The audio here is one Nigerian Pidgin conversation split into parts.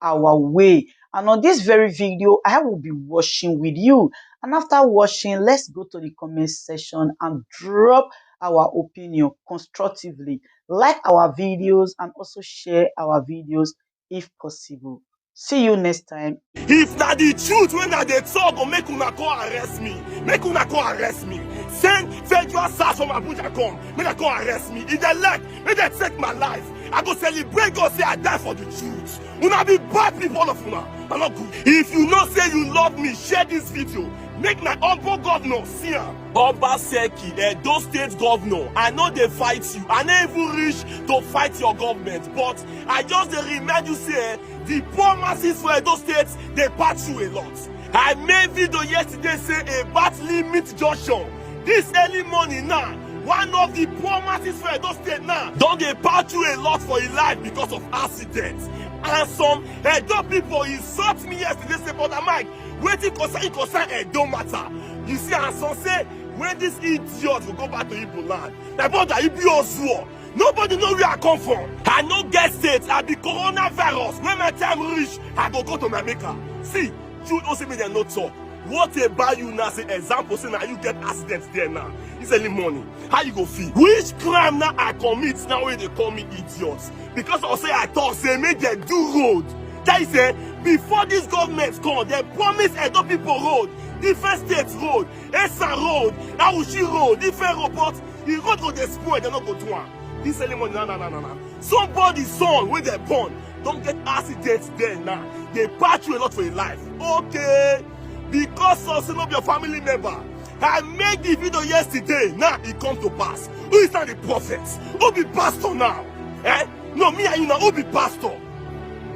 our way and on this very video I will be watching with you and after watching let's go to the comment section and drop our opinion constructively like our videos and also share our videos if possible see you next time if that the truth when i dey talk go make una come arrest me make una come arrest me send federal sars from abuja come make dem come arrest me if dem like Make dem take my life. I go celebrate God say I die for the truth. Una be bad people all of una. I no good. If you know say you love me, share this video. Make my humble governor see am. Obaseki, Edo State governor, I no dey fight you. I no even reach to fight your government, but I just dey remind you say eh, the poor masses for Edo State dey pass you a lot. I made video yesterday say about limit junction This early morning now, one of the poor masses for Edo State now don dey pass through a lot for im life because of accidents. And some Edo people insult me yesterday say, Brother Mike, wetin concern you concern Edo matter? You see, and some say, when this idiot go go back to Igbo land, my brother, you be Ozuo. Nobody know where I come from. I no get state, I be coronavirus. When my time reach, I go go to my maker. See, Jude Osimhen no talk. What about you now? Say example, say now you get accidents there now. It's early morning. How you go feel? Which crime now I commit now when they call me idiot? Because I say I talk, say make they do road. That is eh, before this government come, they promise Edo people road, different states road, Esa road, Awushi road, different road, but the road go dey spoil, they no go do am. This early morning, na na na na na. Somebody's son wey dey born don get accident there now dey patch you a lot for your life okay because of say no be your family member i make the video yesterday now e come to pass who is now the prophet who be pastor now eh no me and you na who be pastor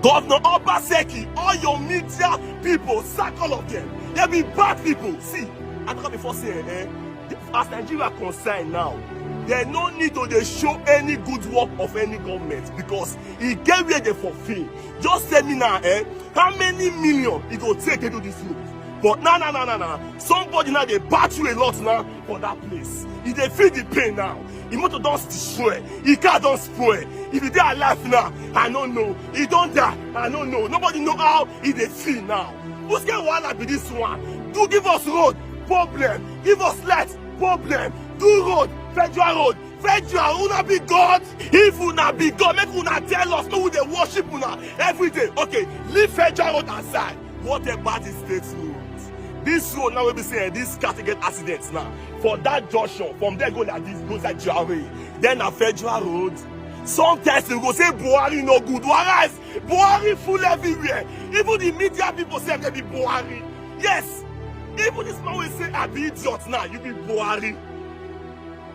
governor obaseki all your media people sack all of them they be bad people see i talk am before say eh, eh as nigeria concern now they no need to dey show any good work of any government because e get where dey for fail just tell me now eh how many million e go take to do this road but na na na na na somebody now dey bat you a lot now for that place e dey feel the pain now e motor don destroy e car don spoil if e dey alive now i no know e don die i no know nobody know how e dey feel now whose kind wahala be this one do give us road problem give us light problem do road federal road French, you are una be God. If una be God, make una tell us who they worship una every day. Okay, leave French out aside. What about this state road? This road now will be saying this car get accidents now. For that junction, from there go like this, go like Jare. Then a federal road. Sometimes you go say Buhari no good. Whereas Buhari full everywhere. Even the media people say they be Buhari. Yes, even this man will say I be idiot now, you be Buhari.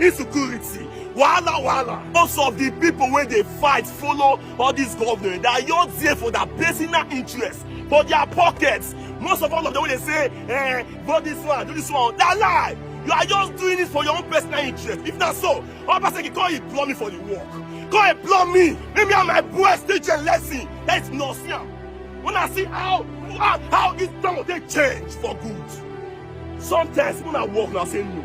insecurity wahala wahala most of the people wey dey fight follow all these governors they are just there for their personal interest for their pockets most of all of them wey dey say eh vote this one do this one na lie you are just doing it for your own personal interest if na so obaseki come employ me for the work come employ me make me and my boys teach a lesson that is nonsense when i see how how how this town dey change for good sometimes when i work na say no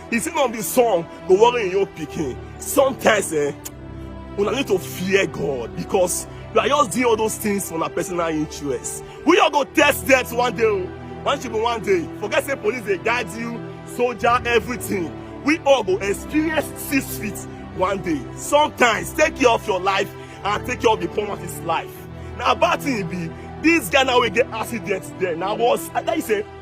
If you not be song, go worry in your picking. Sometimes, eh, una need to fear God because you are just doing all those things for a personal interest. We all go test that one day. Oh. One should be one day. Forget say police they guide you, soldier, everything. We all go experience six feet one day. Sometimes take care of your life and take care of the poor his life. Now bad thing be this guy now will get accident there. Now was I tell you say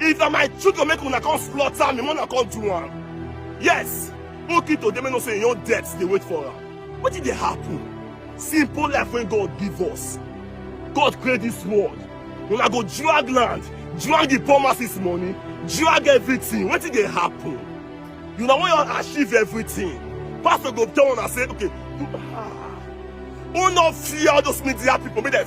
If na my children make una come slaughter me, una come do am. Yes, okay to them no say your death dey wait for am. What did dey happen? Simple life wey God give us. God create this world. Una go drag land, drag the poor masses money, drag everything. Wetin dey happen? You na wan your achieve everything. Pastor go tell una say, okay, do, ah, una fear all those media people make dem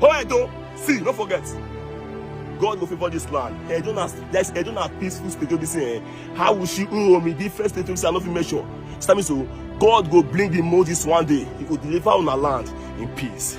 Oh, Edo, see, don't forget. God go favor this land. Edo na yes, Edo na peaceful state wey be say eh, how will she owe me the first state wey say I no fit measure. Stand me so, God go bring the Moses one day. He go deliver una land in peace.